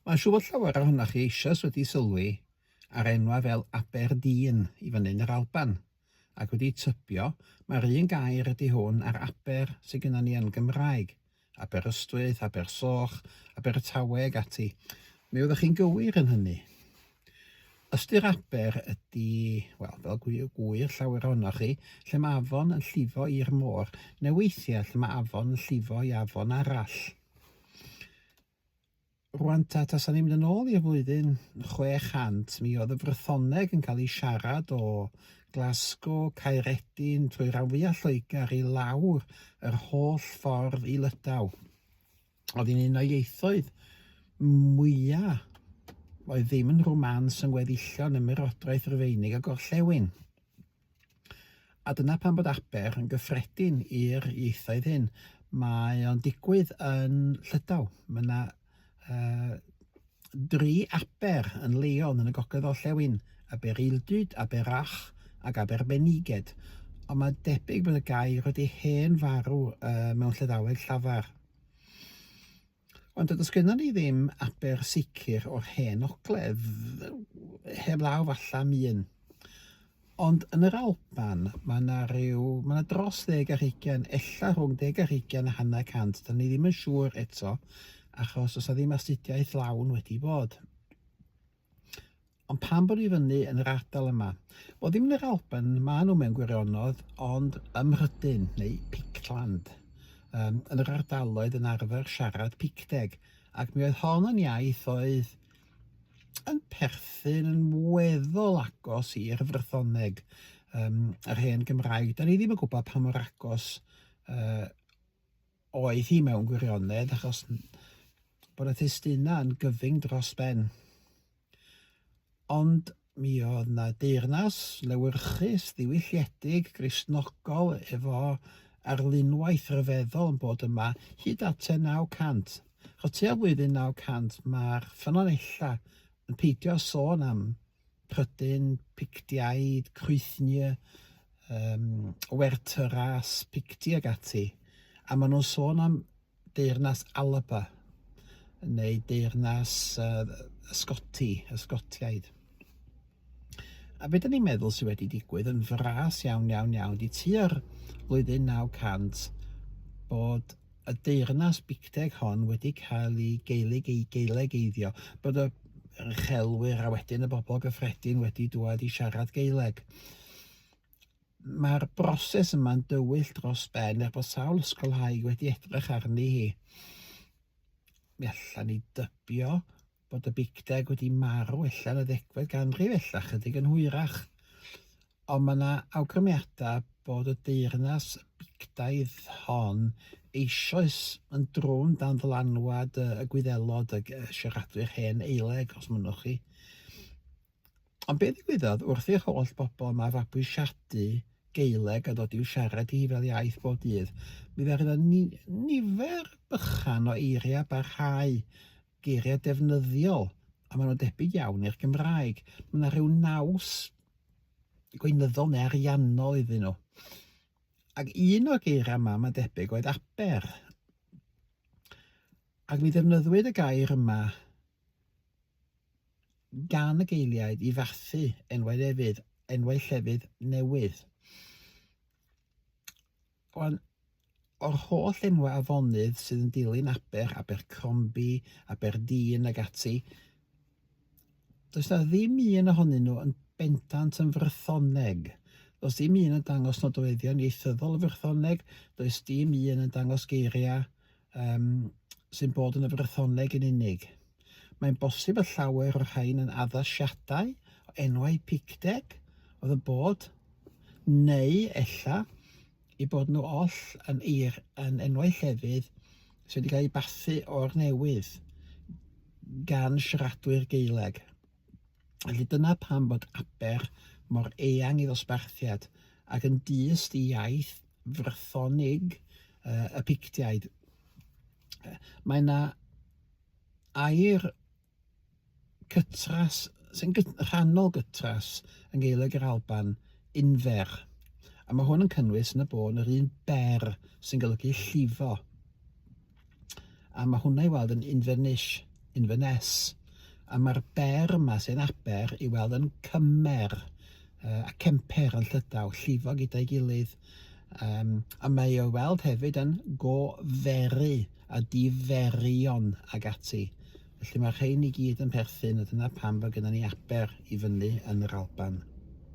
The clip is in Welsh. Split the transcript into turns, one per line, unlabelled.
Mae'n siŵr bod llawer ohonoch chi eisoes wedi sylwi ar enwau fel Aberdeen i fyny yn yr Alban, ac wedi tybio mai'r un gair ydy hwn â'r Aber sydd gennym ni yn Gymraeg, Aberystwyth, Abersoch, Abertawe ac ati. Mi oeddech chi'n gywir yn hynny. Ystyr aber ydy, wel, fel gwyr, gwyr llawer ohonoch chi, lle mae afon yn llifo i'r môr, neu weithiau lle mae afon yn llifo i afon arall. Rwan ta, tasan ni'n mynd yn ôl i'r flwyddyn 600, mi oedd y Frythoneg yn cael ei siarad o Glasgow, Caeredin, trwy rhan fwyaf Lloegr i lawr yr holl ffordd i Lydaw. Oedd hi'n un o ieithoedd mwyaf oedd ddim yn rwmans yn weddillion ymerodraeth Rufeinig a gorllewin. A dyna pam bod Aber yn gyffredin i'r ieithoedd hyn. Mae o'n digwydd yn Llydaw. Mae yna uh, dri Aber yn Leon yn y gogledd orllewin, Aber Ildyd, Aber Ach ac Aber Beniged. Ond mae debyg bod y gair wedi hen farw uh, mewn Llydaweg llafar. Ond does gennym ni ddim aber sicr o'r Hen Ogledd, heb law falle am un. Ond yn yr Alban, mae yna rhyw, mae yna dros ddeg ar hugain, ella rhwng deg ar hugain a hanner cant, da ni ddim yn siŵr eto, achos does yna ddim astudiaeth lawn wedi bod. Ond pam bod i fyny yn yr ardal yma? Wel ddim yn yr Alban, maen nhw mewn gwirionedd, ond ym Mhrydain neu Pictland. Um, yn yr ardaloedd yn arfer siarad Picteg, ac mi oedd hon yn iaith oedd yn perthyn yn weddol agos i'r frythoneg, um, yr hen Gymraeg. Da ni ddim yn gwybod pa mor agos uh, Oedd hi mewn gwirionedd achos bod y testunau yn gyfyng dros ben. Ond mi oedd na deyrnas lewyrchus, ddiwylliedig, Gristnogol efo arlunwaith ryfeddol yn bod yma hyd at tua 900. Achos tua flwyddyn 900 mae'r ffynonellau yn peidio sôn am Pryden, Pictiaid, Crwythnie, um, Wertyras, Picti ag ati. A maen nhw'n sôn am deyrnas Alaba, neu deyrnas uh, Ysgoti, Ysgotiaid. A beth ni'n meddwl sydd wedi digwydd yn fras iawn, iawn, iawn, di tua'r flwyddyn 900 bod y deyrnas bicteg hon wedi cael ei geilyg ei geilegeiddio, bod y uchelwyr a wedyn y bobl gyffredin wedi dwad i siarad Gaeleg. Mae'r broses yma'n dywyll dros ben er bod sawl ysgolhaig wedi edrych arni hi. Mi allan ni dybio bod y Big Deg wedi marw ella yn y ddegfed ganrif, ella chydig yn hwyrach. Ond mae yna awgrymiadau bod y deyrnas bigdaidd hon eisoes yn drwm dan ddylanwad y gwyddelod y siaradwyr hen eileg, os mynnwch chi. Ond beth ddigwyddodd wrth i'r holl bobl yma fabwysiadu Geileg a dod i'w siarad hi fel iaith bob dydd? Mi ddarodd ni, nifer bychan o eiriau barhau geiriau defnyddiol, a maen nhw'n debyg iawn i'r Gymraeg. Mae yna rhyw naws gweinyddol neu ariannol iddyn nhw. Ac un o'r geiriau yma, mae'n debyg, oedd aber. Ac mi ddefnyddwyd y gair yma gan y geiliaid i fathu enwau lefydd, enwau llefydd newydd. Ond, o'r holl enwau afonydd sydd yn dilyn Aber, Abercrombi, Aberdeen ac ati, does na ddim un ohonyn nhw yn bendant yn Frythoneg. Does dim un yn dangos nodweddion ieithyddol y Frythoneg, does dim un yn dangos geiriau um, sy'n bod yn y Frythoneg yn unig. Mae'n bosib y llawer o'r rhain yn addasiadau o enwau Picteg oedd yn bod, neu ella i bod nhw oll yn, eir, yn enwau llefydd sydd wedi cael eu bathu o'r newydd gan siaradwyr Geileg. Felly dyna pam bod Aber mor eang i ddosbarthiad, ac yn dyst i iaith Frythonig y Pictiaid. Mae yna air cytras, sy'n gyt, rhannol gytras yng Gaeleg yr Alban, infer, a mae hwn yn cynnwys yn y bôn yr un ber sy'n golygu llifo. a mae hwnna i weld yn Inverness, Inverness, a mae'r ber yma sy'n aber i weld yn cymer uh, a cemper yn llydaw, llifo gyda'i gilydd, um, a mae o'i weld hefyd yn goferu a diferion ag ati. Felly mae rhain i gyd yn perthyn a dyna pam bod gennym ni aber i fyny yn yr Alban.